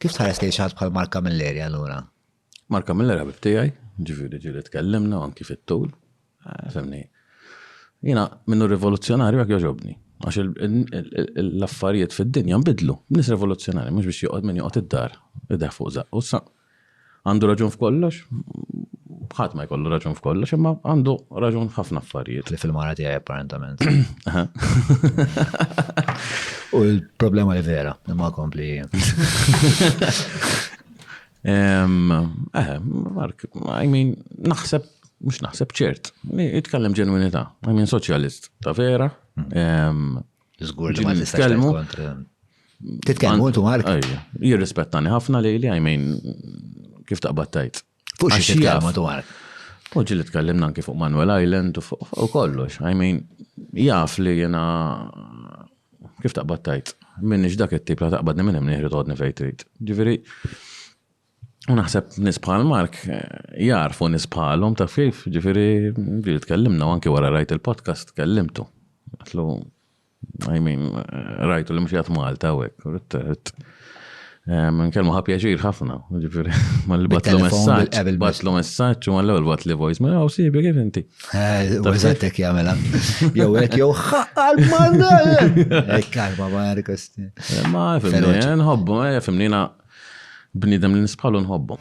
Kif tħares lejn xi ħadd bħal Mark Camilleri allura? Mark Camilleri ħabib tiegħi, ġifieri ġieli tkellimna anki fit-tul. Eh, Femni. Jiena minnu rivoluzzjonarju għak joġobni. Għax l-affarijiet fid-dinja nbidlu. Nis rivoluzzjonari, mux biex joqgħod minn joqgħod id-dar, id fuq zaqqu. Għandu raġun f'kollox? Ħadd ma jkollu raġun f'kollox, imma għandu raġun ħafna affarijiet. Li fil-mara tiegħi apparentament. U l-problema li vera, imma kompli. Eh, Mark, I mean, naħseb, mux naħseb ċert, itkellem ġenwinita, I mean, soċjalist, ta' vera, Zgur li ma tistax kontra. Titkellmu intu Mark? Jirrispettani ħafna li li għajmin kif taqbad tajt. Fuq xi titkellmu intu Mark? Fuq ġili tkellimna anki fuq Manuel Island u kollox. Għajmin jaf li jena kif taqbad tajt. Minni dak it-tip la taqbadni minn hemm nieħri tgħodni fejn trid. Ġifieri U naħseb nis bħal Mark eh, jarfu nis bħalhom taf kif, ġifieri ġieli tkellimna u anke wara rajt il-podcast tkellimtu. Għatlu, I mean, eh, rajtu li mxijat Malta u hekk, rrit- rrit- eh, minn kelmu ħa pjaċir ħafna, ġifieri mal batlu Bit-telefon, messaġġ, bil-qabel biss. batlu messaġġ u mal-ewwel batli voice, ma għaw sibi kif inti. Eh, U eżattek jagħmela. Jew hekk jew ħaqqal manna. Hekk kalma ma għarikosti. Ma fimni, Feroċi. nħobbu, eh, fimni na bniedem li nisbħalu nħobbu.